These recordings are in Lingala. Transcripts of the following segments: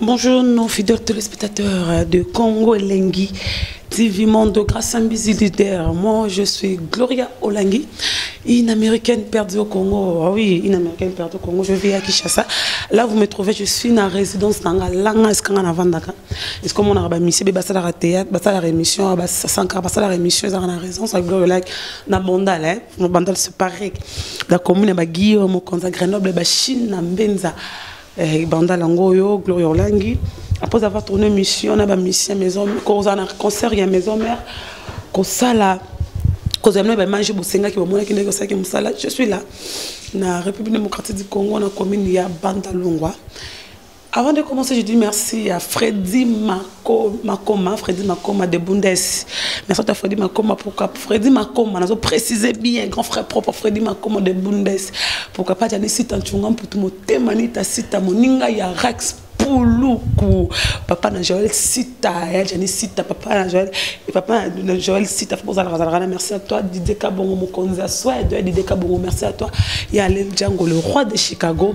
Bonjour nos fidèles téléspectateurs de Congo Elengi TV Monde grâce à Mbizi Leader. Moi je suis Gloria Olangi, une américaine perdue au Congo. Ah oui, une américaine perdue au Congo. Je vis à Kinshasa. Là vous me trouvez, je suis dans résidence dans la Langa Eskanga Navandaka. Est-ce qu'on a misé ba sala la théâtre, ba sala la émission, ba sanka, ba sala la émission dans la résidence avec Gloria Olangi na Bandal hein. Mon Bandal c'est pareil. La commune ba Guillaume, Konza Grenoble, ba Chine na Mbenza. Eh, banda lango oyo Gloria Olangi après avoir tourné mission na ba mission maison koza na concert ya maison mère kosala kozala na baimage bosengaki bamonaki ndenge osalaki mosala je suis là na république démocratique du congo na commune ya bandalungwa avant de commencer je dis merci à fredi ma makoma fredi makoma de bundes merci ta fredi makoma pourquoi fredi makoma nazo préciser bien grand frère propre fredi makoma de bundes pourquoi pas tani sita nchunga mputu motema ni ta sita moninga ya rax puluku papa na joel sita ya jani sita papa na joel papa na joel sita fo ozalaka zalaka na merci à toi didie kabongo mokonzi ya swede didie kabongo merci à toi ya lel django le roi de chicago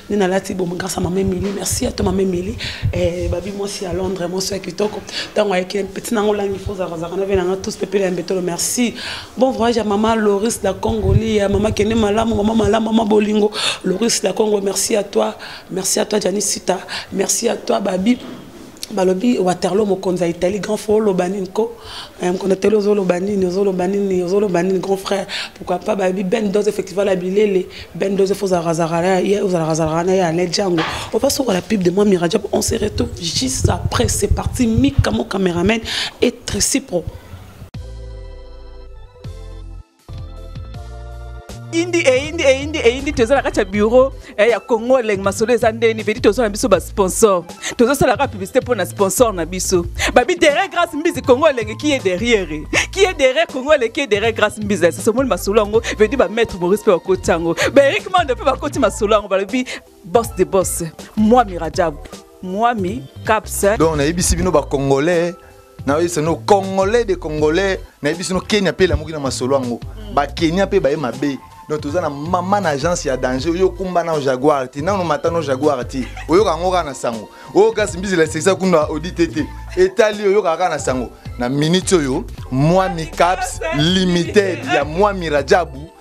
nde nalati bomo grâce à mama emili merci ato mama emili eh, babi mwasi ya londres mwasi ya kitoko ntango ayekile mpeti nango olangi fozakazaka na venanga tous pepele ya mbetolo merci bon voyage ya mama loris la congoli ya mama kende malamu mama malamu mama bolingo loris la congo merci à toi merci à toi janisita merci à toi babi balobi waterlo mokonzi ya italie grand frère oloba nini ko eh, mokonzi ya italie ozoloba nini ozoloba nini ozoloba nini grand frère pourquoi pas bayebi ben dos effectivement la bilele ben dos efo ozalakazalaka na ye alain django ova sokola pub de moi mirajab on se retrouve juste après c'est parti mika mon cameraman et tricipro indi eyindi eh, eyindi eh, eyindi eh, toza na kati ya bureau ya congo elenge masolo eza ndeni vedi toza na biso basponsor tozosalaka publicité mpo na sponsor na biso babi derrière grâce mbizi congo elenge qui est derrière qui est derrière congo elenge qui est derrière grâce mbizi esasomoni masolo yango vedi bamaître maurice mpe bakoti yango baerik mando mpe bakoti masolo yango balobi boss de boss mwami rajab mwami caps donc nayebisi bino bacongolais nayebisi no congolais de congolais nayebisi no kenya mpe elamuki na masolo yango mm. bakenya mpe baye mabe donc toza na mama na agence ya danger oyo okumba nao jaguar te nano mata no jaguar te oyoka yango kaka na sango oyo kasi mbizela esekisa kuna audite te etali oyokaka kaka na sango na minute oyo mwami caps limited ya mwami rajabu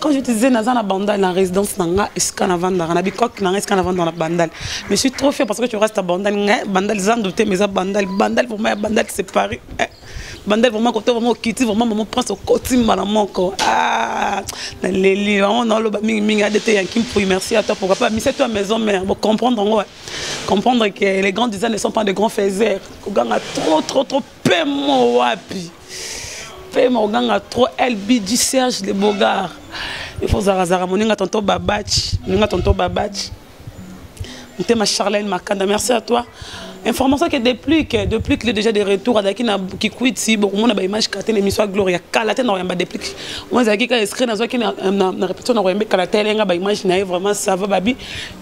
Quand je te disais naza na bandal na résidence na nga esika na vandaka na bikoki na nga esika na vandaka na bandal mais je suis trop fier parce que tu restes à bandal nga bandal eza ndote mais eza bandal bandal vraiment ya bandal c'est Paris eh. bandal vraiment koto vraiment okiti vraiment maman prince okoti mbala moko ah na leli vraiment na loba mingi mingi adete ya kimpuyi merci à toi pourquoi pas mise toi maison mère bon comprendre ngo comprendre que les grands disants ne sont pas de grands faiseurs koganga trop trop trop pemo wapi pema oganga trop lbg serge le bogar ifo zarazara moninga tonto babaci moninga tonto babaci motema charlene makanda merci à toi information ke deplic deplic le déjà de retour azalaki na kikwiti bokomona baimage kala te na émission ya gloria kala te na koyamba deplic oyo ezalaki kaka escrit nazwaki na répétition na koyambe kala te elenga baimage na ye vraiment sava babi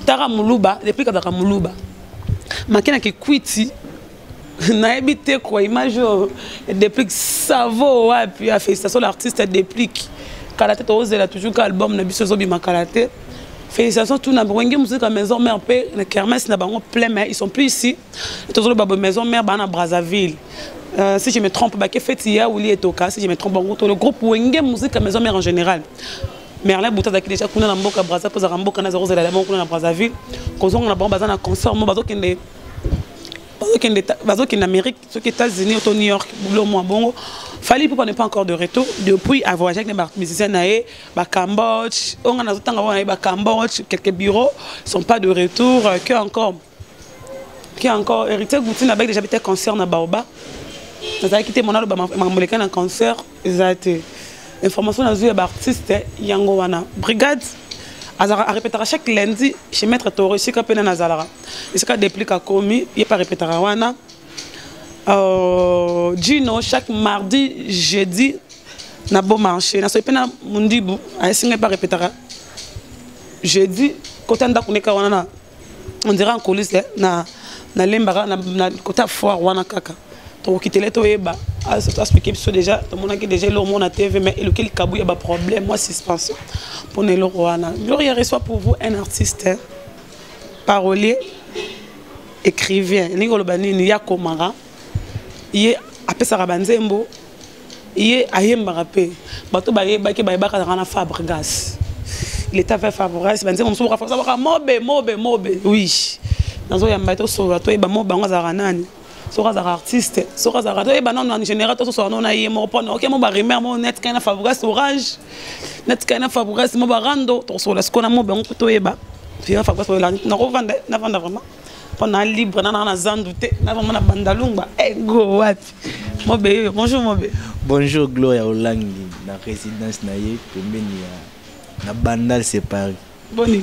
tara moluba deplic azalaka moluba make na kikwiti nayebi te kua image oyo deplique savo wapi afélicitation l'artiste deplique kala te tozela toujours ka album na biso ezobima kala te félicitation tout na wenge musique ya maison mère mpe na kermesse na bango plein mais ils sont plus ici tozoloba boye maison mère baa na brazzaville Euh, si je me trompe, bah, que fait hier ou Lietoka, si je me trompe, bon, le groupe Wenge Musique à Maison Mère en général. merlin buta azalaki déjà kuna na mboka braza mpo azalaka mboka na zero ozala ya moko kuna na brazzaville kozonga na bango baza na concert mo bazokende bazokende amérique soki états-unis to new york bulo mwa bongo fali pupa n'est pas encore de retour depuis avoyage avec ba musicien na ye bacambodge oyo ngai nazotanga wana ye bacambodge quelques bureaux sont pas de retour que encore que encore héritier goutin abaki déjà bite concert na baoba nazalaki te mona aloba makambo leka na concert eza te information nazwi ya baartiste yango wana brigade azalaka arepetaka chaque lundi chez maître toro esika mpe nani azalaka esika deplic akomi ye mpe arepetaka wana euh, gino chaque mardi jeudi na beau marché nasoki mpe na mondibu aesinga mpe arepetaka jeudi kota ndako neka wana na on dirait en coulisse eh, na na lembaka na, na kota foire wana kaka tokokitele toyeba asplike biso déjà tomonaki déjà eloko moko na tv mais eloki likabu ya baproblème mwa suspension mpo na eloko wana gloria reçoit pour vous un artiste hein. parolier écrivain elingi koloba nini ye akomaka ye apesaka banzembo ye ayembaka mpe bato bayebaki bayebaka nanga na fabregas leta fe fabregas banzembo mosusu bakafaabaka mobe mobe mobe oui nazoyamba ye tosolola toyeba mobe yango azalaka nani soki azalaka artiste soki azalaka toyeba nano en général tososola nano na ye moko mpona oke mo barimer mo net kai na fabregas orange net kai na fabregas mo barando tokosokola sikoyo na mobe yango mpo toyeba fira fabregas oyela nakovanda navanda vraiment mpo na libre nanaa na zandu te na vraiment na bandalungba ego eh, wapi Mobe yo, bonjour Mobe. Bonjour Gloria Olangi na résidence na ye pembeni ya na Bandal c'est Paris. Boni.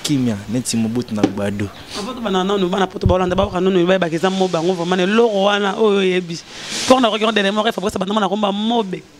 Kimia neti Mobutu na Gbado. Apoto bana nanu bana poto ba Hollande ba baka nanu ba bakeza mobe yango vraiment ne loro wana oyo yebi. Pour na regarder les morts Fabrice bana na komba mobe.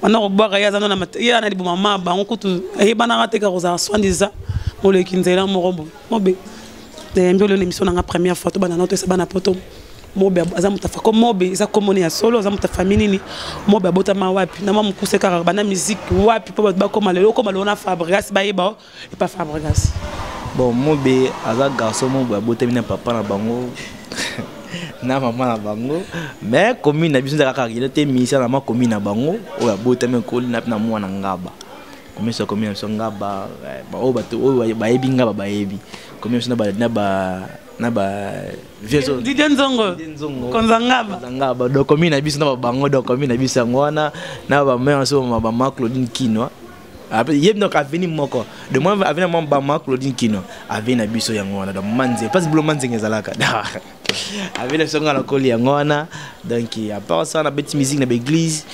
banda kobwaka ye aza no ye ana liboma ma bango kutu ayebanaka te kaka kozala soindiza moleki nzela moko boye mobe nayambi olio na émission nanga première fois tobanda nao toyesa bana poto mobe aza moto afa ko mobe eza komoni ya solo aza moto afami nini mobe abotama wapi na mwa mokuse kaka bana miziki wapi mpo bato bakoma lelo okoma lelo na fabrigas bayeba Et pas Fabregas. Bon, Mobe, aza garçon Mobe, abotami na papa na bango. na mama na bango mais commune na biso ezalaka kaka te ministère na ma commune na bango oyo abotami ekoli na na mwana ngaba commune so commune na biso ngaba eh, oyo bato oyo bayebi ngaba bayebi commune biso na ba na ba na ba vieso Didier Nzongo konza ngaba konza ngaba donc commune na biso na ba bango donc commune na biso yango wana na ba mère so ma ba ma Claudine Kinwa ye donc aveni moko de moi aveni mwa bama claudine kino aveni na biso yango wana donc manze mpasi bilo manzenge ezalaka aveni na biso nga nakoli yango wana donc apart ça na beti musique na baeglise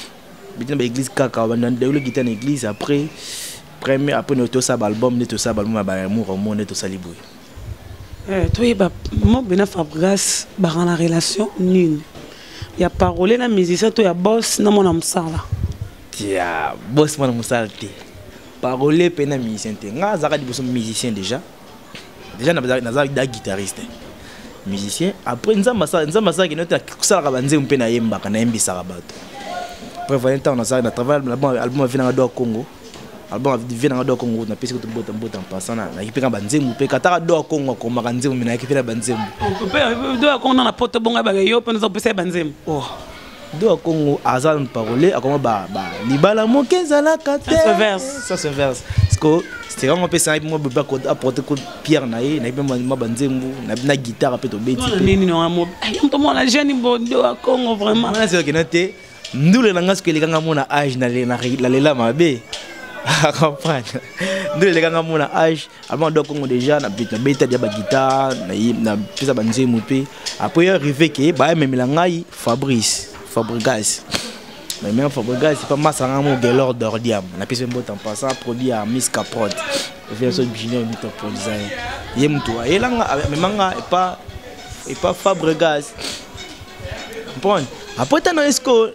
beti na baeglise kaka bandayolo gita na église après premier après nde tosala baalbum nde tosala baalbum ya baamour omo nde tosali boye eh, toyeba mobe na fabrigas baka na relation nini ya parole na musicien to ya boss na mwana mosala tia boss mwana mosala te parole mpe na musicien te ngai azalaka liboso musicien déjà déjà naza da guitariste musicien après nzambe asalaki note kosalaka banzembo mpe nayembaka nayembisaka bato après voye ntango nasalaki na travail album avi nanga doa congo album vie nanga doa congo napesi kutu mbota mbota mpasa nayaki mpe ka banzembo mpe kataka doa congo akomaka nzembo me nayaki mpe na banzembo doa congo na na poto bonga bake yo mpe naza kopesa ye banzembo oh. do ya congo aza parole akoma ba, ba libala moke ezalaka te ça se verse siko sika ngo apesa nayebi mwa bebe aporte ko pierre na ye nayebi mwa banzembu nayebi na guitare mpe tobetiyomoto mwana jeune bodo ya congo vraimentnazokena te ndule na ngai soki elekanga mona age nalela mabe comprendre ndule elekanga mona age avant ado kongo déjà nabeta dia bagitare napesa banzembo mpe après ya rive ke bayamemela ngai fabrice fabrigas meme fabrigas pa masanga mo gelor dordiam napesi mbota mpasa produit ya miss caprod verso junior mito produisai ye motu ayelanga amemanga epa epa fabrigas comprendre après tano esko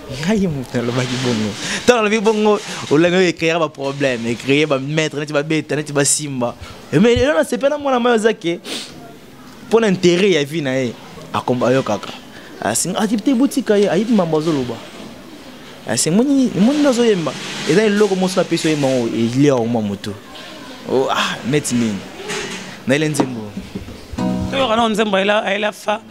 ngai moto nalobaki bongo ntango nalobi bongo olangi oyo ecreera baproblème ecree bamaître neti babeta neti basimba eh, mais elo nasepe na mwana mai oza ke mpo na intérêt ya vie na ye akomba ayokaka asinga ah, atibite ah, botika ye ayebi mambo azoloba asimoni ah, moni nazoyemba eza eloko mosu napesi oyemba ngo elia oma moto oh, ah neti nini naele nzembo toyoka nao nzembo ayela fa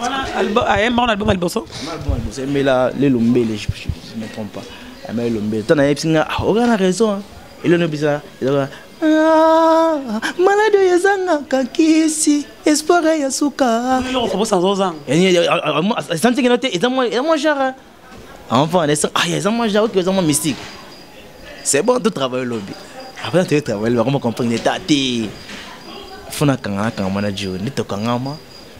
wana album ayemba ah, wana album ya liboso album ya liboso emela lelo mbele je me trompe pas amela lelo mbele tana yebisi nga ah, oka na raison elelo nobisa ezaka ah, maladi oyo ezangaka kisi espoir ya suka esantiki no te eza mwa genre avant on est ah ils ont mangé ok ils ont mystique c'est bon tout travail lobby après tu travail vraiment comprendre l'état t'es faut na kangana kangama na Joe ni to kangama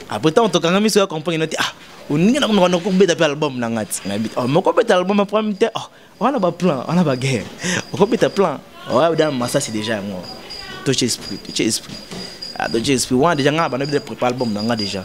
après tant to kangama miso ya comprendre nati ah oningi na komaka nakobeta mpe album na ngai ti nayebi oh, mokobeta album ya premier te oh, wana baplan wana baguerre okobeta plan oyabda masasi déjà yango toce esprit toce esprit ah, toce esprit wana déjà ngai bana bida prépare album na ngai déjà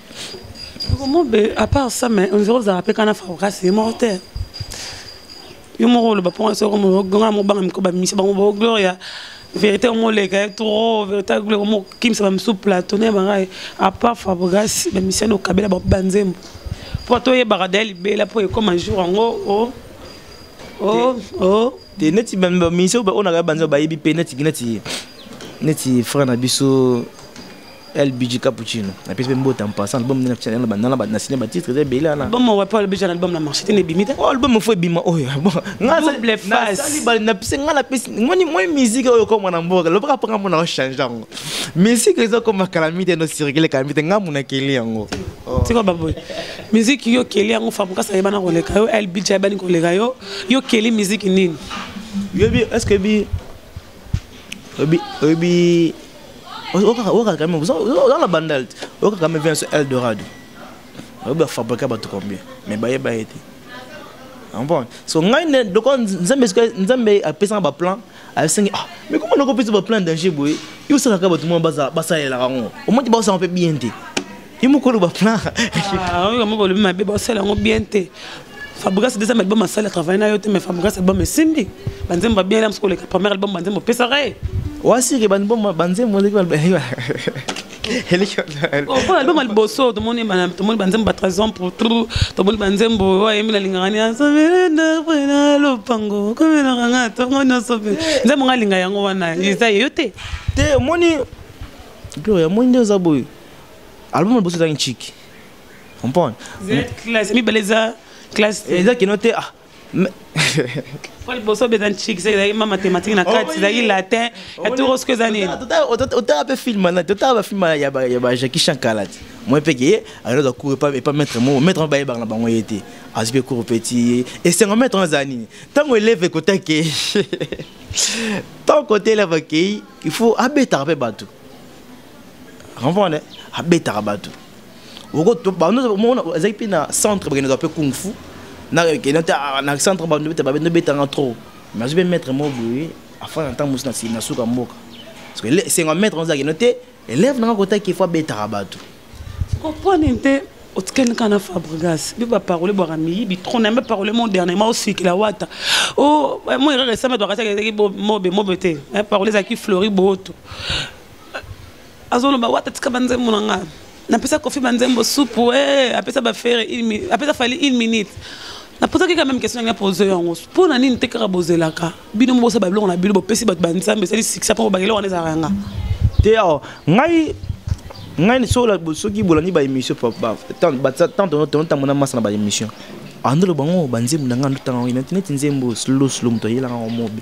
Mobe, à part ça, mais on dirait que vous avez un fabricat, c'est mortel. Yo moko le bapon so comme le grand mo banga miko ba misi bango ba gloria vérité mo le ka trop vérité gloria mo kim sa ba msou plateau ne banga à part fabrigas ba misi no kabela ba banzembo po to ye baradel bela po e comme un jour ngo oh oh oh te neti ba misi ba ona ka banzo ba yebi pe neti neti neti frère na biso LBG Cappuccino. La pièce même botte en passant, album de Channel Banana, na ciné titre de Bela na. Album wa pas LBG album na marché ne bimite. Oh album faut bima oh ya bon. Nga sa double face. Na sali bal na pise nga la pise ngoni moi musique oyo ko mwana mboka. Loba panga mwana o change yango. Musique ezo ko makalamite no circuler kalamite nga muna keli yango. Oh. Tiko baboy. Musique yo keli yango famu kasa yebana ko leka yo LBG yebani ko leka yo. Yo keli musique nini? Yo bi est-ce que bi Obi, obi okaka kame oza na bandal te okaka kame vient sur eldorado oyebi bafabrika bato combien mais bayeba ye te comprendre so ngai nde lokola nzambe nzambe apesanga baplan asengi ah mais koma noko opesa baplan danger boye yo osalaka bato mwana basalelaka yango omati baosanga mpe bien te ye moko oloba plan ah, oyo moko olobi mabe basala yango bien te fabrigas deuxième album asali travaille na yo te mais fabrigas album esimbi banzembo babien elams koleka première album banzembo opesaka ye wasike banzembo banzembo mpo album ya liboso tomoni banzembo ba trésor pour trou tomoni banzembo oyo ayembi nalingaka ni asobelendapena lopango komelaka nga ntongo nyonso mpe nzembo nga alinga yango wana eza ye yo te te omoni gloria omoni nde oza boye album na boso ezangi nciki comprendre mibale eza classe eh, eza kino te ah po liboso obeza nciki soki ezalaki ma mathématique na kati ezalaki latin ya toro soki eza nini otala mpe film na totala bafilm ya bajaki shankala ti moi mpe keye alozwa cour epa maître moko maître moko bayebaka na bango ye te azwi mpe cour mpe ti esengo maître ngo ezala nini ntango eleve ekota keye ntango kota eleve akei il faut abetaka mpe bato comprendre abetaka bato ezalaki mpe na centre bakendaka mpe kung fu na ah, centre babendo betanga trop mais azwi mpe maître moko boye afanda ntango mosusu nasili na suka mboka esengo maître oza kino te élève nanga kotaki efo abetaka bato koponi mpe otikali kaka na fabrigas mpe baparole bwaka miyibi trop na mpe parole mo dernièrement osikila wata oh, mo erreur esambe twakatiaki mobe mobe te parole ezalaki flori booto azoloba wata tika banzembo na nga napesa kofi banzembo supu e eh, apesa bafere apesa fali une minute napozaki quand même question yango pose yango mpo na nini te kaka bozelaka bino mobosa babiloko na bino bopesi bato banzambe esali sikisa mpo bakele wana ezalaka yanga te awa ngai ngai soki bolandi baémission tantonotambo na masa na baémission andolo bango banzembo na ngai ndotango neti nzembo slow slow moto ayelaka yango mobe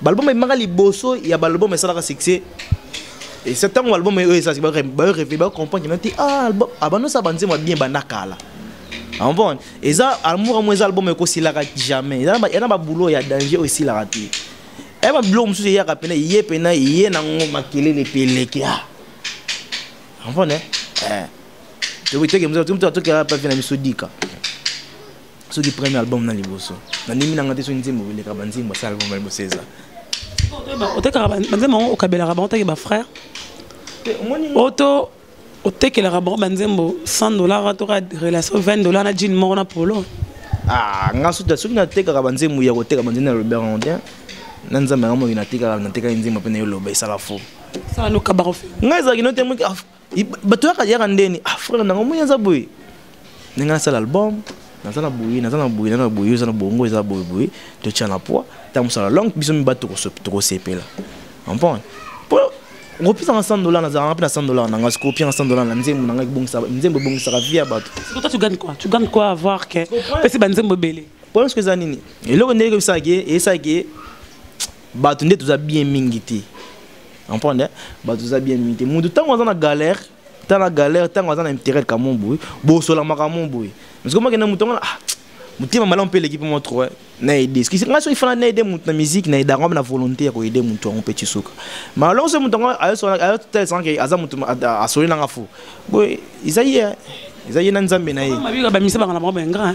balbum ebimaka liboso ya balbum esalaka succès esa ntango balbum oyo esalaki bareve bacomprendre kina te ah, album abandosa ah, banzembo ya bien banda kala ambon eza amour yango eza album ekosilaka jamais eza na baboulot ya danger oyo esilaka te eye babiloko mosusu eyaka mpena ye mpena ye nango makelele mpe eleki a ambon eh? eh. tokemzaa tokela pavi na miso dika soki premier album na liboso nandimi nanga te soki nzembo eleka banzembo asala album na liboso eza otekaka banzembo yango okabelaka bango take bafrère oto otekelaka bango banzembo 100 dollar toka relation 20 dollar na jine moko na polo ah, nga soki natekaka banzembo ya koteka banzembo ya robert andien na nzambe yango moki natekaka natekaki nzembo mpe nayo loba esala fo ngai ezalaki note moki ah, bato yaka yaka ndeni ah frère nanga omoni aza boye ndenge nasala album naza na boye naza na boye naza na boye oza na bongo eza boye boye totya na poids ntango mosala longue biso mibatu tokosepela comprendre mpo okopesanga 100 dollar nazalanga mpe na 100 dollar nanga sikoyo opianga 100 dollar na nzembo nanga nzembo ebongisaka vie ya bato toi tu gagnes quoi tu gagnes quoi avoir que opesi banzembo ebele problème siko eza nini eloko nde ekebisaka ye eyesaka ye bato nde toza bien mingi te comprendre bato toza bien mingi te moto ntango aza na galère ta na galère ntango aza na intérêt kamo boye bosolamaka mo boye parce que makenda moto yango ah, motema malamu mpe eleki mpe mwa trop na aide eskisi ngai soki fana na aide moto na musique na aidaka mpe na volonté ya koaide moto yango mpe tisuka malongo soki moto yango ayotalisaka ke aza moto asoli nanga fo boye eza ye eza ye na nzambe na ye bamisa banga na bango baingra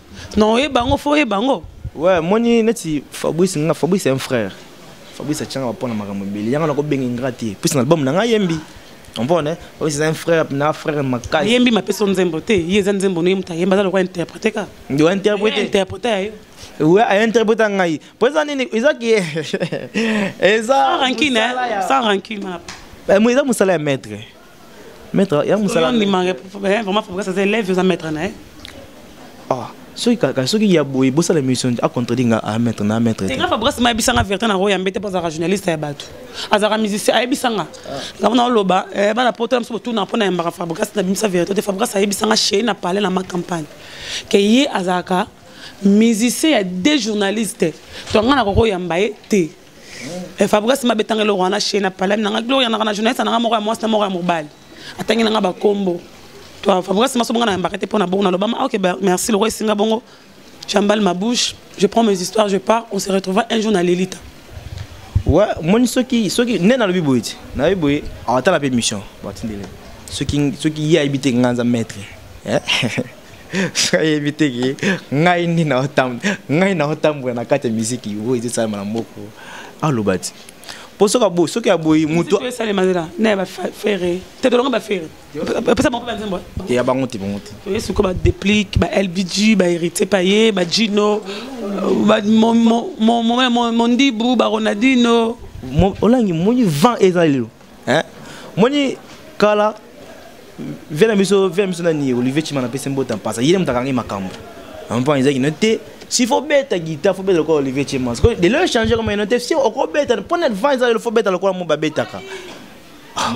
Non, et bango, faut et bango. Ouais, moi, neti Fabrice, nga Fabrice c'est un frère. Fabrice atianga ba pona makambo ebele. Yanga na ko benga ingra te. Puis na album na nga yembi. On peut ne? Fabrice c'est un frère, na frère makasi. Yembi ma peso nzembo te. Yeza nzembo no yemta yemba za lokwa interpréter ka. Ndio interpréter. Interpréter ayo. Ouais, a interpréter ngai. Pour ça nini, eza ki eza sans rancune, hein? sans rancune. Eh, moi eza musala ya maître. maître ya musala ni manga eh, vraiment faut ça c'est élève ça maître na eh. ah soki kaka soki ya boye bosala émission a contredire nga a maître na maître te grave brasi ma bisanga vérité na roya mbete poza journaliste ya batu azaka musicien a bisanga nga mona loba eh bana poto mso tout na pona mbaka Fabregas na bimisa vérité te Fabregas a bisanga chez na parler na ma campagne que ye azaka musicien ya deux journalistes to nga na koko yamba ye te eh, fabrigas mabetanga eloko wana chez na palami nanga gloria nanga na journaliste nanga moko ya mwasi na moko ya mobali atangi nanga bakombo to fabrigas maso bonga na yambaka te mpo na bongo nalobama ah, ok merci lokola esinga bongo j'emballe ma bouche je prends mes histoires je pars on se retrouvera un jour na lelita ouais moni soki soki nde nalobi boye ti nayebi boye awatala mpe mission batindele soki soki ye ayebi te nga nza maître eh? ayebi te ke ngai nde ngai naotambola na kati ya miziki oyo ezosalama na moko aloba ti mpo soki aboyi soki aboyi moto esalemazela na ya bafere te tolonga bafere pesa bango mpe banzembo eh? ya bango te bango te oye sikoyo badeplique ba lbg ba héritier paye ba gino mondibu ba ronaldino olangi moni vent eza lelo hein moni kala vie na biso vie na biso nani olivier chima na pese mbota mpasa ye moto akangi makambo ampa ezaki no te si fo beta guitar fo beta lokola olivier chima de lo échange koma eno te si okobeta mpo na advance alelo fo beta lokola mo babetaka ah.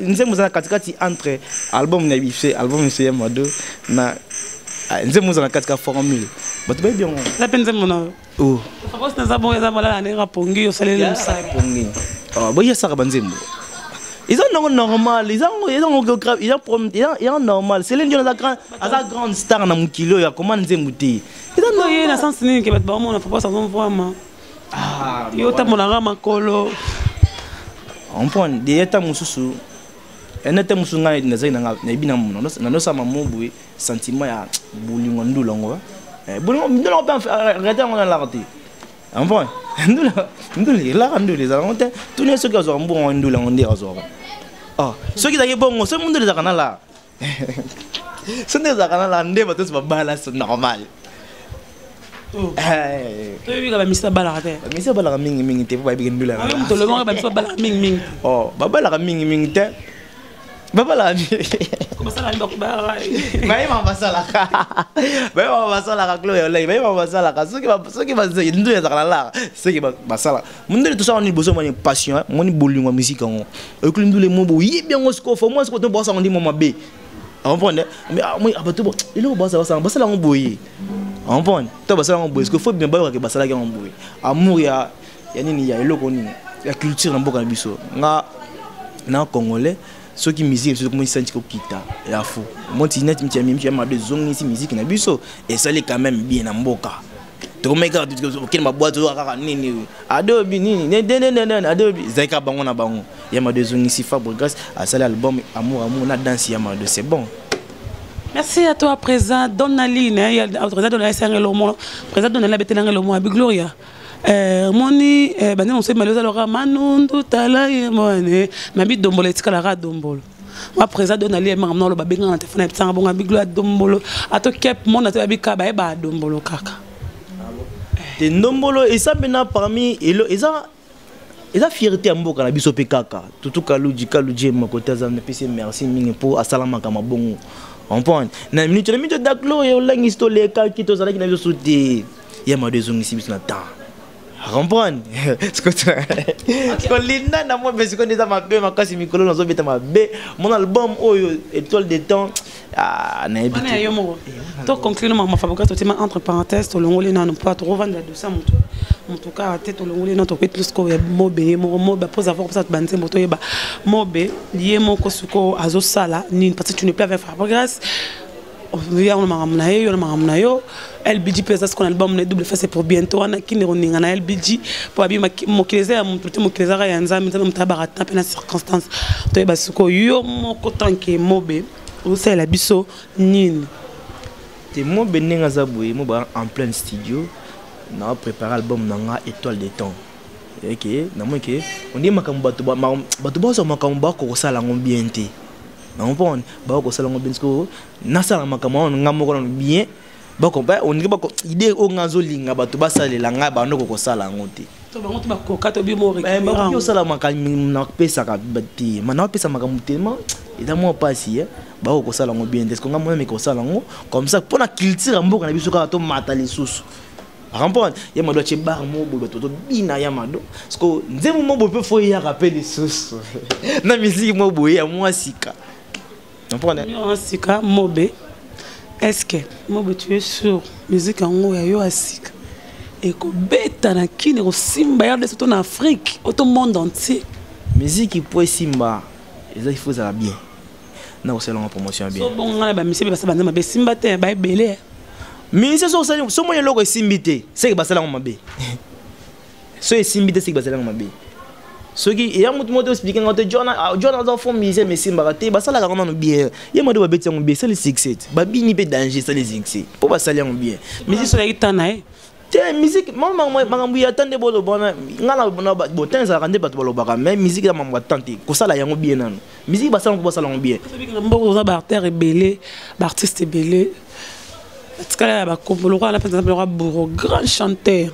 nzembo eza na katikati entre album na bise album ese ya mado na ah, nzembo eza na kati ka formule bato bayebi yango na mpe nzembo na oh. fakosi naza bongo eza malala ndenge apongi osaleli mosalapongi ah, boyesaka banzembo eza ndongo normal eza normal selene dion aza grande star na mokili oyo akoma nzembo te eza ye na sense nini ke bato baomona fakosi azomvwama ah, yo otambola nga makolo comprendre deya ntango mosusu ena ntango mosusu ngai nazali nayebi na mona nanosama mo boye sentiment ya bolingo ndula yango eh, bolingo ndula yango mpe arrete yango nalaka te comprendre ndula ndula elaka ndula ezalaka ngo te tuni soki azwaka mbongo ndula yango nde azwaka ah, soki ezalaki bongo soki ndula ezalaka nalaka so nde ezalaka na lande bato nyonso babala so normal oh. eh. toyebika bamisi babalaka te bamisi babalaka mingimingi te mpo bayebiki ndula moto olobaka bamisi babalaka mingimingi oh, babalaka mingimingi te babalaka bayebaka basalaka bayebaka basalaka clo ya olai bayebaka basalaka soki ndu ezalaka na laka soki basalaka mundele tosala nini bozo mani passion eh? moni bolingo ya miziki yango oyokoli ndule mo boyebi yango sikoyo fo mwa sikoyo to bosa yango ndi mwa mabe comprendre mais ah, moi abato ah, bo eloko basa basa basala yango boye comprendre to basala yango boye sikoyo fo bien bayokaki basalaki yango boye amour ya ya nini ya eloko nini ya culture na mboka na biso nga na congolais soki miziki biso tokomoni santi kokita ya fo monti neti mitiamimitiamado ezongisi miziki na biso esali quand même bien na mboka tokomaki kaka okende babwate oyoka kaka nini adobi nini adobi ezali kaka bango na bango yamado ezongisi fabregas asali album amour amour na danse yamado c'est bon Merci à toi, présent. Donne la ligne. Hein. Il y a le président de la SRL au moins. Le président de la BTL au moins. Gloria. Eh, moni eh, bande mosusu malozi alora manundu tala ye mone mabi dombolo etikalaka dombolo ma président don ali emanga mna oloba benganga na telefone ebisanga bonga biglo ya dombolo ato kep monde ato yabi kaka baye ba dombolo kaka te ndombolo eza mpena parmi elo eza eza fierté ya mboka na biso mpe kaka tutu kaluji kaluji ye moko te aza napesi merci mingi mpo asalamaka mabongo comprendre na minute na minute daklo ye olangisi tolekaki tozalaki na biso te ya mado ezongisi biso na temps comprendre kolinda na moi mpe sikoyo eza mabe makasi mikolo nazobeta mabe mon album oyo étoile de temps ah, nayebi te yo moko to conclure mama fabrica totima entre parenthèse tolongoli nanu mpo tokovanda dosa motu motu kaka te tolongoli nanu tokoki plus ko ya mobe ye moko mobe apose avoir kopesa banzembo toyeba mobe ye moko sikoyo azosala nini parce que tu ne plus avec fabrigas yango makambo na ye yo na makambo na yo lbg mpe eza sikoyo na libamu na ye double face pour bientôt wana kinde koninga na lbg mpo abi mokili eza ya moto te mokili ezaka ya nzambe nzambe moto ayabaka ta mpe na circonstance toyeba sikoyo yo moko tanke mobe osalela biso nini te mobe ndenge aza boye mobe en pleine studio na préparé album na nga étoile de temps eke namoni ke ondie makambo bato bazwa makambo bakokosala yango bien te comprendre bakoki kosala yango bien sikoyo nasala makambo yango ngai moko nano bien olingi bako idée oyo ngai azolinga bato basalela ngai bando kokosala yango te eh, osala nakopesaka te ma nakopesa makambo telema eza mwa mpasi eh. bakoki kosala yango bien te siko ngai mwana meke kosala yango comme ça mpo na culture ya mboka na biso kaka tomata lisusu Rampon, ya mado atie bar mobo bato to bina ya mado. Sko nzembo mobo pe fo ya rappel lisusu. Na musique mobo ya mwa sika. Comprendre? Mwa sika mobe. Est-ce que mobo tu es sûr musique yango ya yo asika? ekobeta na kini ekosimba ya deso to na afrique oto monde entier miziki mpo esimba eza ifo ezala bien na kosala ngo promotion bien so bongo ngana ba mise ba sabana mabe simba te ba ebele mise so sali so moye loko esimbi te c'est que ba sala ngo mabe so esimbi te c'est que ba sala ngo mabe soki eya motu moko te explike ngo te john ah, john aza fo mise mais simbaka te ba sala ngo nanu bien ye mode ba beti ngo bien sali succès ba bini pe danger sali succès po ba sali ngo bien mise so ya kitana eh te musique makambo ya ta nde boloba wana nga na botan ezalaka nde bato balobaka mais musique ya mambo ya tan te kosala yango bien nano musique basala mpo basala yango bien mboko oza baartère ebele baartiste ebele batikala ya bakombo lokola na mpenza na mpenza bouro grand chanteur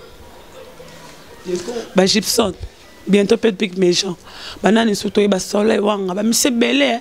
bagibson bientôt mpe pic méchant banani susu toyeba soleil wanga bamisi ebele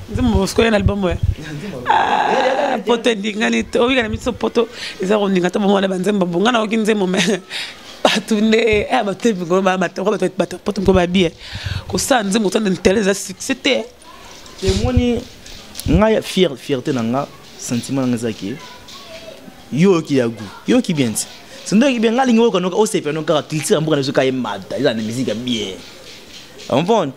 nzembo mosiko ya na album oyo ah, poto endingani te oyika na biso poto eza kondinga te bomona banzembo bonga nayoki nzembo me bato nde eh, bato te mikolo bato poto mikolo babie kosala nzembo otanda ntele eza succès te emoni ngai fier fierté na nga sentiment nanga eza ke yo oyoki ya gout yo oyoki bien ti sindo oyoki bien nga alingi oyoka noka osepela nokaka culture ya mboka na biso ka emata eza na miziki ya bien comprendre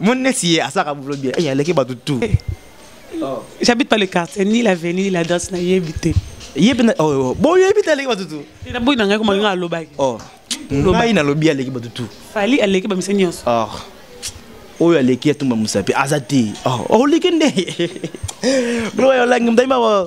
Mon nesi ye asaka boulot bien. Eh aleki batu tout. Eh. Oh. J'habite pas le quartier ni l'avenue ni l'adresse na yebi te. Yebi na oh, oh. bon yebi te aleki batu tout. Ina boyi na ngai koma ngai alobaki. Oh. Ngai na lobi aleki batu tout. Fali aleki ba miseni yonso. Oh. oyo aleki atumba mosapi aza te oleki nde blo olangi mdaima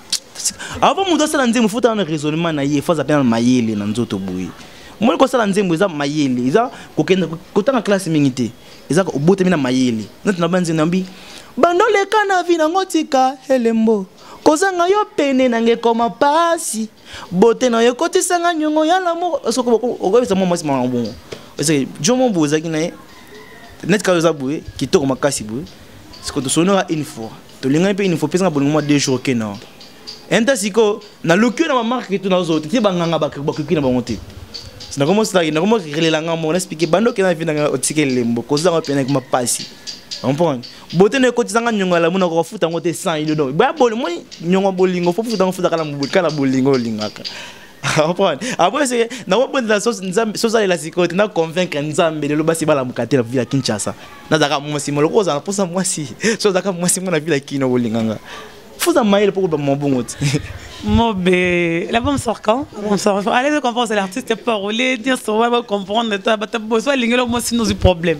avant moto asala nzembo fotala na raisonnement na ye faza mpe na mayele na nzoto boye omoni kosala nzembo eza mayele eza kokenda kotanga classe mingi te eza obotami na mayele nati na banzembo nambi bando leka na vi nango tika elembo kozanga yo pene nange ekoma mpasi bote na yo ekotisanga nyongo ya lamour soki okobisa mwa mwasi mama bongo parceke jomo boye ozalaki na ye neti kaka oza boye kitoko makasi boye sikoyo tosonora une fois tolingani mpe inifo pesa nga bolingo mwa deux jours oke na enta sikoyo naluki yo na bamarke to nazo te te banganga bakoki na bango te nakomosalaki nakomorelela nga moko naexplike banda okenda na vi na nga otika elembo kozwa yango mpenaki ma mpasi comprendre bote na ekotisa nga nyongo ya lamu na kokafuta yango te sans ido donc boya boli moi nyongo ya bolingo fo futa yango futa kala bolingo olingaka comprendre après c'est na ko bondela so nzambe so zalela sikoyo te na convaincre nzambe lelo basi balamuka te na ville ya kinshasa nazalaka mwasi moko lokola ozala mposa mwasi so ozalaka mwasi moko na ville ya kino kolinganga fuza mayele mpo koloba mabongo te Mobe, la bombe sort quand La bombe sort. Allez, je comprends, c'est l'artiste parolier, dire sur moi, comprendre, tu as besoin de l'ingénieur, moi, sinon, c'est problème.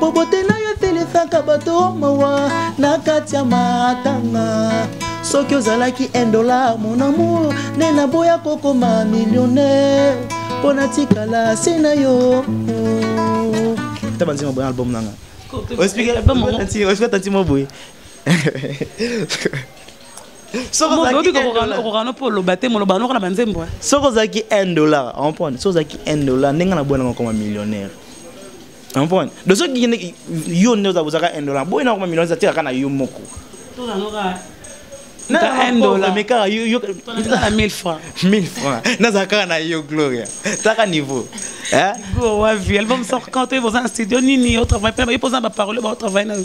bobote na yo eselisaka bato mawa na kati ya matanga soki ozalaki 1 dollar mon amour nde naboya kokoma millionnaire mpo natikala se na yo ta banzima boye album nanga oexpliketanti mo boye okokana mpo oloba te moloba noko na banzembo soki ozalaki 1 dollar comprendre soki ozalaki 1 dollar ndenge na boya nanga okoma millionnaire comprendre donc soki kende yo nde ozabozaka un dollar boye nakoma million eza tekaka na yo moko mekaka yozala 1000 franc 1000 franc nazala kaka na yo gloria taka niveau wavi album sort quand oyebi oza na studio nini otravaille mpe bayebi oza na baparole baotravaille na yo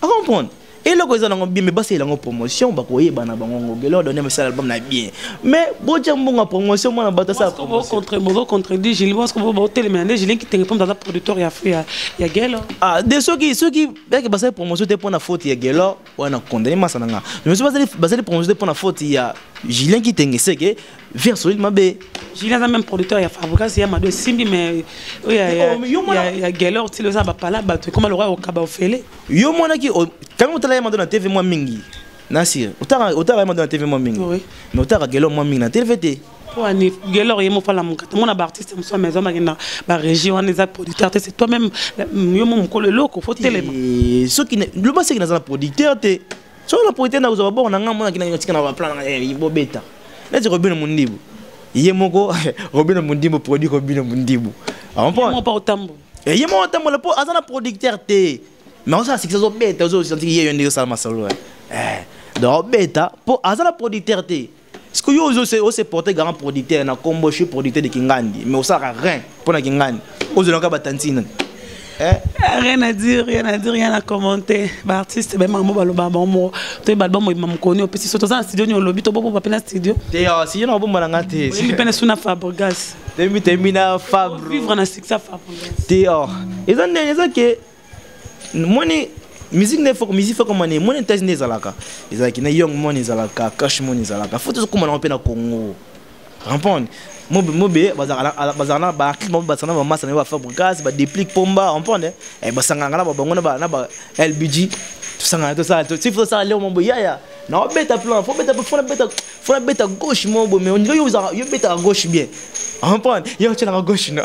comprendre eloko eza nango bien mais basalela yango promotion bakoyeba na bango ngo gelor donne basala album na bien mais botya mbongo ya promotion mwana bato asala bocontredit gili bosco botelemela nde gili kitenge mpo aza producteur ya ya gelo ah de soki soki yake basali promotion te mpo na faute ya gelor wana condamne masa na nga mais soki basali promotion te mpo na faute ya julien kitenge seke Via solide mabe. Julien aza même producteur ya Fabricas ya Mado Simbi mais oh, ya ya ya Geller tilo za ba pala bato comme le roi au kaba ofele. Yo mwana ki tango tala ya Mado na TV mwa mingi. Nasir, otaka otaka ya Mado na TV mwa mingi. Mais otaka Geller mwa mingi na TV te. Po ani Geller yemo fala muka. Tango na ba artiste muso mais zoma kenda ba région wana za producteur te c'est toi même yo mo mukolo loko faut telema. Soki le basi ki na za producteur te. soko na profite na kozwa baboko na ngai monaki na tika na baplan na ngai eh, bobeta neti robino mondibu ye moko robino mondibu produit robino mondibu ah, eh, ye moko otambola mpo aza na producteur te mais osala sikisa ozobeta ozosanti ye yo ndenge osala masolo eh, donc obeta mpo aza na producteur te Parce que yo ozo se ose porter grand producteur na combo je suis producteur de Kingandi mais osaka rien pour na Kingandi ozo loka ba tantine eh? rien à dire rien à dire rien à commenter ba artiste ba mambo ba loba bango to ba album ma mukoni o pesi soto za studio ni olobi to bobo ba pena studio te yo si yo na bomba na ngate si pena suna Fabregas te mi te mi na Fabro vivre na succès Fabregas te oh eza ndenge eza ke moni musique nde foko musique foko mane moni ntasi nde ezalaka ezalaki na young moni ezalaka cash moni ezalaka fo tozokoma nango mpe na congo rampone mobe mobe bazalaka na baartiste bango basana bamasa na yo bafabrigas badeplique pomba rampone eh, basanganaka na babango na ba lbg tosangana tosala tosala leo mambo yaya na obeta plan fo beta fo beta fo beta gauche mo bo mais on dirait yo za yo beta gauche bien en point yo tshela ma gauche no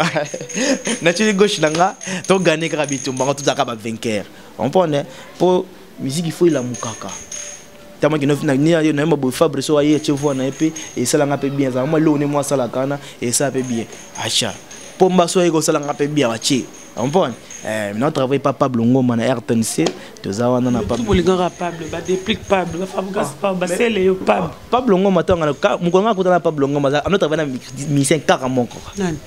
na tsheli gauche na nga to gagner kaka bitumba nga tuzaka ba vainqueur en point ne po musique il faut il amukaka tama kino na ni yo na mabo fabre so aye tshie voix na epe et sala nga pe bien za moi lo ne moi sala kana et ça pe bien acha pomba so aye ko sala nga pe bien acha Ompone eh, na travaille pas Pablo Ngoma na RTNC toza wana na Pablo bolingaka Pablo ba déplique Pablo ba Fabregas ah, Pablo ba sele yo Pablo ah, Pablo Ngoma to ngana mukolo ngana kutana Pablo Ngoma za amna travaille na musicien kaka moko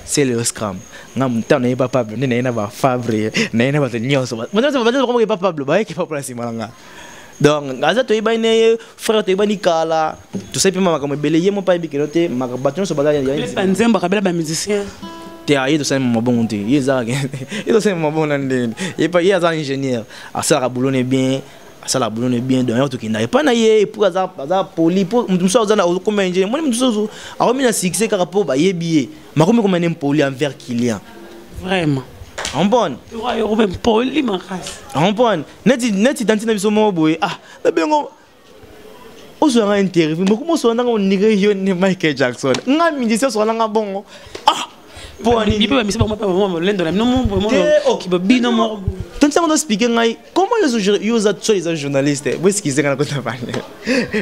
sele yo scram nga mutana ye pa Pablo nene na ba Fabre na ye na ba nyonso ba ba ba ba Pablo ba ye ke Pablo simanga donc aza toyebani na ye frère toyebani kala tosali mpe makambo ebele ye mopa ayebi keno te bato nyonso bazabanzembo akabela bamusicien te aye tosali mabongo te ye ezalaka ye tosali mabongo na ndenge epa ye aza ingénieur asalaka boulot ne bien asala boulot ne bien donc yango tokenda epai na ye epuis aza aza poli mpo moto mosusu aza okoma ya ingénieur moni moto mosusu akomi na succès kaka mpo bayebi ye makomi koma ne mpoli envers client vraiment ompone ompone neti neti tanti na biso moko boye ah nabengo ozwa nga interview mokumu osola nanga onire yo ne michael jackson nga mindisi osola nanga bongo ah mpo anini mpe bamisi bango mpe bamama molendo na bino mokiba bino moko tonti yango tospike ngai comment yo oza soit eza journaliste boeskize nga na kota bane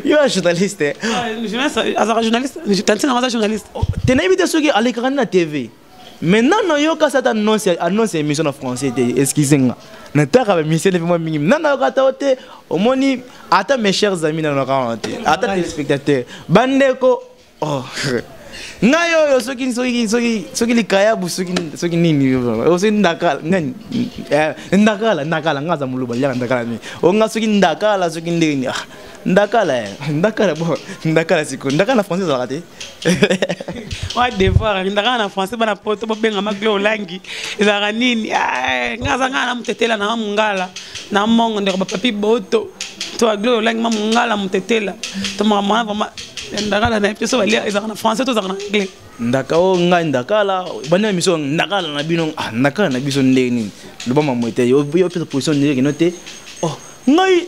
yo ya journaliste azaka journaliste tanti nango aza journaliste te nayebi te soki alekaka nde na tv mais nano nayoka ata annonce annonce ya émission na français te excuse nga nataka bamission epe mwa mingi nano nayoka ata te omoni ata mes chers amis nano nakana te ata téléspectateur bandeko oh. ngai oyo soki soki soki soki likayabu soki soki nini soki ndakala nani eh, ndakala ndakala ngai aza moluba liaka ndakala nini o ngai soki ndakala soki ndenge nini ah. ndakala eh. ndakala bo ndakala siko ndakala na français ezalaka te wa devoir ndakala na français bana poto bobengama glo olangi ezalaka nini eh, nga aza ngaa na motetela na mongala na mongo ndeko bapapi boto to aglo olangi ma mongala motetela to makambo wana vraimen ndakala na ye mpe so balia ezalaka na français to ezalaka na anglais ndaka o ngai ndakala banda miso ndakala na bino ah, ndakala na biso ndenge nini loba mamwe te yo opesa position ndenge kino te oh ngai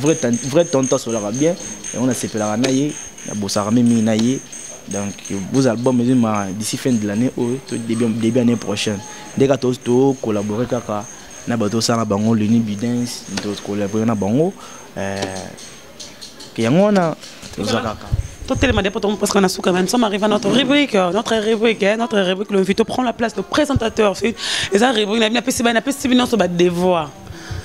vrai vrai tonton asolaka bien yango nasepelaka na ye nabosaka mpe mingi na ye donc vos albums ezima d'ici fin de l'année oyo to début, début année prochaine nde kaka tocollabore kaka na bato osala bango luni bidens tocollabore na bango euh, ke yango wana toza kaka totelema nde po tomoposka na suka mais nous sommes arrivé à notre rubrique euh, notre rubrique hein, notre rubrique l'invité prend la place le présentateur eza rubrique na bino apesi bana apesi bino nyonso badevoir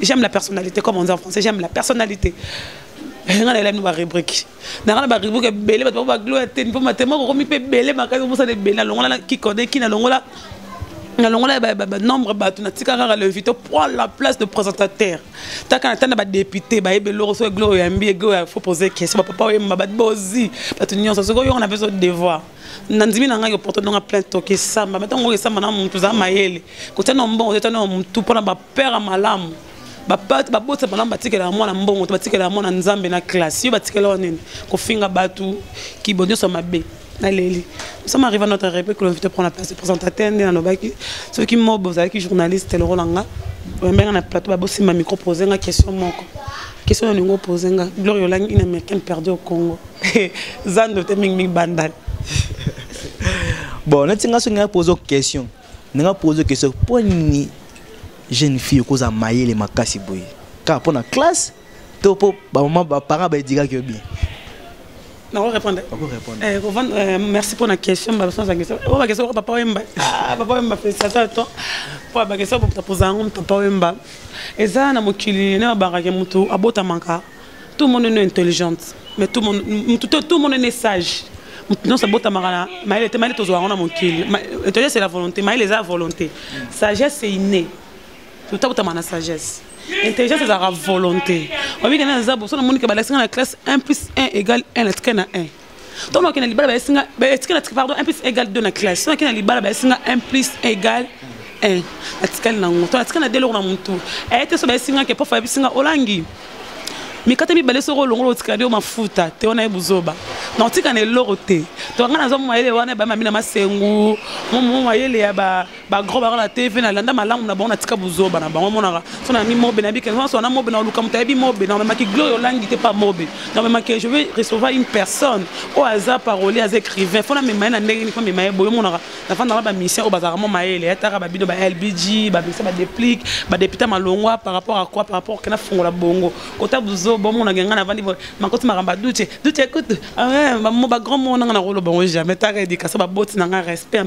j'aime la personnalité comme on dit en français j'aime la personnalité nga na elani barubrike nanga na barubrike ebele bato bango baglo ya teni mpo matema kokomi mpe ebele makasi omosana ebele nalongola na kikode ki nalongola nalongola banombre bato natika kaka levi to prend la place de présentateur taka na tanda badepute bayebi eloko so eglo oyambi eglo ya fo pose question bapapa oyemba bato bozi bato nyonso soki oyongo na mpe so devoir na ndimi na ngai koporte ndonga plein toki esamba me ntango esamba na motu oza mayele kotya na mbongo totya na motu mpo na bapere malamu babota malamu batikela ya mwana mbongo to batikela ya mwana nzambe na classe yo batikela wa nini kofinga bato kibo nyonso mabe naleli mosama arriva notre république lonvite prend la place de présentateur nde nalobaki soki mobo ozalaki journaliste lokola nga bambenga na plateau babosimba micro pose nga question moko question olingi opose nga gloria olangi une américaine perdue au congo zando te mingi mingi bandal bon neti nga soki nga pose question ndenge pose question mpo nini jeune fille okozala mayele makasi boye kaka mpo na classe to mpo bamama baparent baedikaki yo bien nakorépondre eh, eh, merci mpo na question babasanzangisa oyo bakesa oyo papa wemba ah, papa wemba félicitation ya to mpo bakesa oyo bapozala yango papa wemba eza na mokili nde babakaki motu abotamaka tout le monde est intelligente mais tout le monde tout, tout le monde est sage non ça bota marana maïle te maïle tozwa ngona mokili intelligence c'est la volonté maïle eza volonté sagesse c'est inné tout ça bota mana sagesse intelligence ezalaka volonté oyebi kana eza boso namonike balakisi nga na classe 1 plus 1 égale 1 natika na 1 to nake na libala bayesi nga etika natika pardon un plus égal deux na classe to nake na libala bayesi nga un plus égal un natikali nango to natika na de eloko na motu aye te so bayesi nga ke pofa ayebisi nga olangi mikate mibale soko olongola otikali yo mafuta te wana ye buzoba na otika na eloko te to nga nazwa mayele wana ebamami na masengu mayele ya ba ba gros baka na tv na landa malamu na bango na tika buzoba na bango monaka so na mi mobe na bikanga so na mobe na luka mutayebi mobe na maki gloria olangi te pa mobe na maki je vais recevoir une personne o aza parolier aza écrivain fona me maye na ndenge ni fona me maye boyo monaka na fanda na ba mission o bazaka mo mayele ya taka ba bido ba LBG ba bisa ba déplique ba député malongwa par rapport à quoi par rapport kana fongola bongo kota buzoba mona nganga na vandi makoti makamba duche duche écoute ah ba mo ba grand mona na rolo bongo jamais taka edika so ba boti na nga respect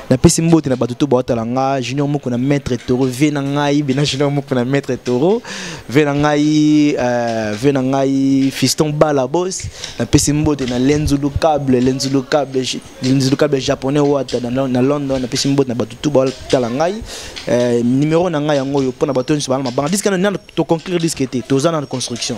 napesi mbote na bato to baotala nga junior moko na maître toro vie na ngai bena junior moko na maître toro vie na ngai euh, vie na ngai fiston bala bos napesi mbote na lenzulu cable lenzulu cable lenzulu cable japonais wata na london napesi mbote na bato to baotala ngai euh, numero na ngai yango oyo mpo na bato nyonso bana mabanga diske nano toconclure diske te toza na construction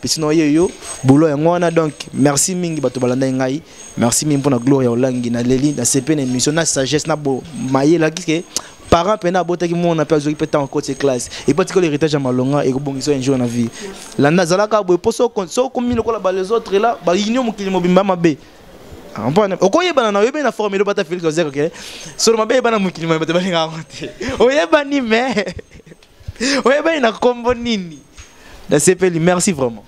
pesi na ye yo bolo yango wana donc merci mingi bato balandaki ngai merci mingi mpona gloria olangi na leli na sepe na émission na sagesse na bo mayela kike parent mpena abotaki mwana mpe azwaki mpe ntango akoti classe epo atikoli héritage ya malonga ekobongisa un jour na vie landa azalaka boye mpo sokomi lokola ba les autres la baunion mokili mobimba mabe mpona okoyebana na oyebani na formule obata félix ozekake solo mabe yebana mokili mabe bato balingaka yango te oyebani mais oyebani na kombo nini nasepeli merci vraiment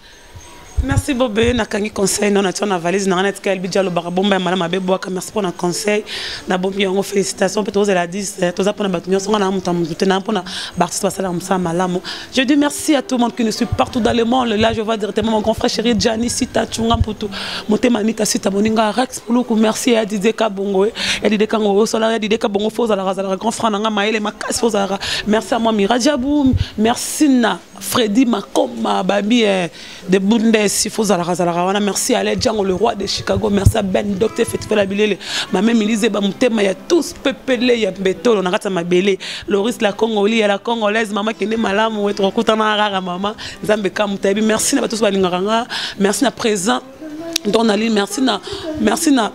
merci bobe nakangi conseil no natia na valise na ngai natika elbi dia alobaka bomba ya mala mabe bwaka merci mpo na conseil nabombi yango félicitation mpe tozela 10 eh, toza mpo na bato nyonso ngai na moto ya motu te na mpo na baartiste basalaka mosala malamu je dis merci à tout le monde qui nous suit partout dans le monde là je vois directement mon grand frère chéri gianni sita chunga mputu motema mita sita boninga rex Luku merci ya Didier Kabongo eh. ya Didier Kango au salaire ya Didier Kabongo faut la razala grand frère nanga maele makasi faut la merci à moi Mirajabou merci na Freddy Makoma Babi eh, de Bundes il faut la razala wana merci à Django le roi de Chicago merci à Ben Docteur Fetfela Bilele ma même Elise Bamutema ya tous pepele ya Betolo na kata mabele Loris la Congoli ya la Congolaise maman kende malamu wetu kokutana rara maman Nzambe kamutabi merci na tous balingaka merci na présent donc nali merci na merci na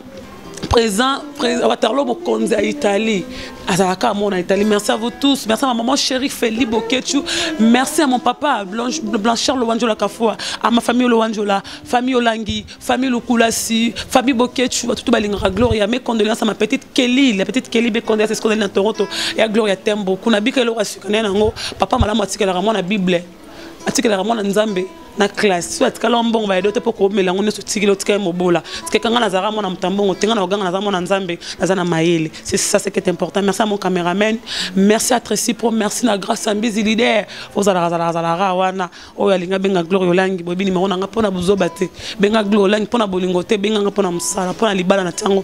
présent waterlo bokonzi ya italie azalaka amour na italie merci à vous tous merci à ma maman chérie feli bokechu merci à mon papa blanchard lowanjola kafua à ma famille lowanjola famille olangi famille lukulasi famille bokechu batutu balingaka gloria mes condoléances à ma petite kelly la petite kelly mes condoléances escondali na toronto ya gloria tembo kuna bika eloko ya sika naye nango papa malamu atikelaka mwana bible atikelaka mwana nzambe na classe so atikala wa mbongo bayedo te mpo komela yango nyonso otikeli otika ye mobola tikeka ngai nazalaka mwana moto ya mbongo te ngai na koganga naza mwana nzambe naza na mayele c'est ça c'est qui est important merci à mon cameraman merci à Tracy Pro merci na grâce à Mbizi leader ozalaka zalaka zalaka wana oyo alingi abenga Gloria Olangi boyebi nimero na ngai mpo na buzoba te benga Gloria Olangi mpo na bolingo te benga ngai mpo na mosala mpo na libala na tiango